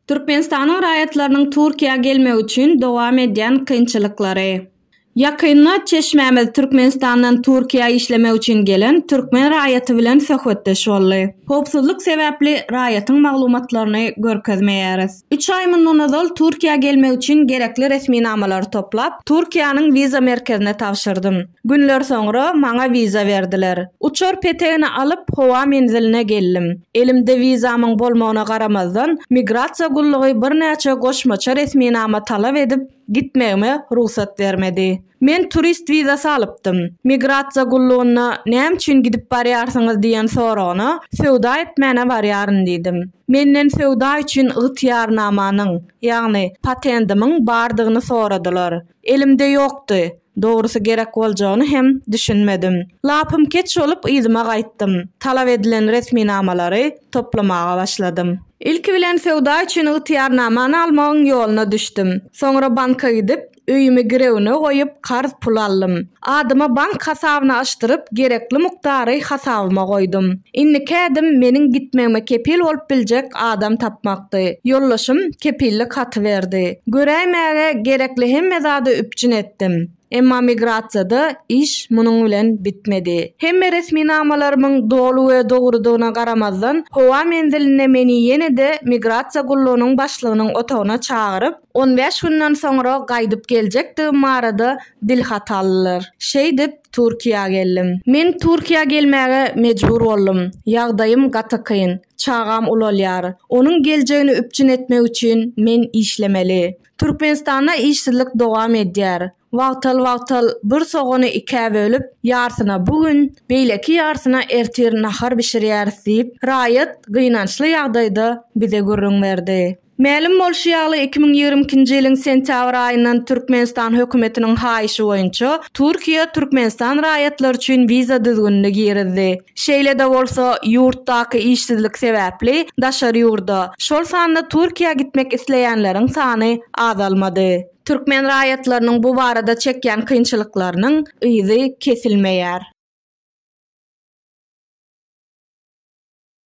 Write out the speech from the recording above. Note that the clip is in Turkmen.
Türkmenistanyň raýatlarynyň Türkiýä gelmegi üçin dowam edýän kynçylyklary. Ýakynda çeşmämiz Türkmenistandan Türkiýä işlemek üçin gelen türkmen raýaty bilen söhbetdeş boldy. Howpsuzlyk sebäpli raýatyň maglumatlaryny görkezmeýäris. Üç aý mundan ozal Türkiýä gelmek üçin gerekli resminamalary toplap, Türkiýäniň wiza merkezine tabşyrdym. Günler soňra maňa wiza berdiler. Uçar petegini alyp, howa menziline geldim. Elimde wizamyň bolmagyna garamazdan, migrasiýa gullugy birnäçe goşmaça resminama talap edip, gitmegime rugsat bermedi. Men turist wizasy alypdym. Migrasiýa gullugyna näme üçin gidip barýarsyňyz diýen soragyna söwda etmäne barýaryn diýdim. Menden söwda üçin ygtyýarnamanyň, ýagny patendimiň bardygyny soradylar. Elimde ýokdy. Dogrusy gerek boljagyny hem düşünmedim. Lapym keç bolup yzyma gaýtdym. Talap edilen resminamalary toplamaga başladym. Ilki bilen söwda üçin ygtyýarnamany almagyň ýoluna düşdüm. Soňra banka gidip, Öýümi girewine goýup, karz pul aldym. Adyma bank hasabyny açdyryp, gerekli mukdary hasabyma goýdum. Indiki ädim meniň gitmegime kepil bolup biljek adam tapmakdy. Ýoldaşym kepillik haty berdi. Göräýmäge gerekli hemme zady üpjün etdim. Emma migrasiýada iş munuň bilen bitmedi. Hemme resminamalarymyň doly we dogrudygyna garamazdan, howa menzilinde meni ýene-de migrasiýa gullugynyň başlygynyň otagyna çagyryp, On bäş günden soňra gaýdyp geljekdigim barada dilhat aldylar. Şeýdip, Türkiýä geldim. Men Türkiýä gelmäge mejbur boldum. Ýagdaýym gaty kyn. Çagam ulalýar. Onuň geljegini üpjün etmek üçin men işlemeli. Türkmenistanda işsizlik dowam edýär. Wagtal-wagtal bir sogany ikä bölüp, ýarsyna bu gün, beýleki ýarsyna ertir nahar bişirýäris diýip, raýat gynançly ýagdaýda bize gürrüň berdi. Mälim bolşy ýaly, iki müň ýigrimi ikinji ýylyň sentýabr aýyndan Türkmenistan hökümetiniň haýyşy boýunça Türkiýe Türkmenistan raýatlary üçin wiza düzgünini girizdi. Şeýle-de bolsa, ýurtdaky işsizlik sebäpli daşary ýurda, şol sanda Türkiýä gitmek isleýänleriň sany azalmady. Türkmen raýatlarynyň bu barada çekýän kynçylyklarynyň yzy kesilmeýär.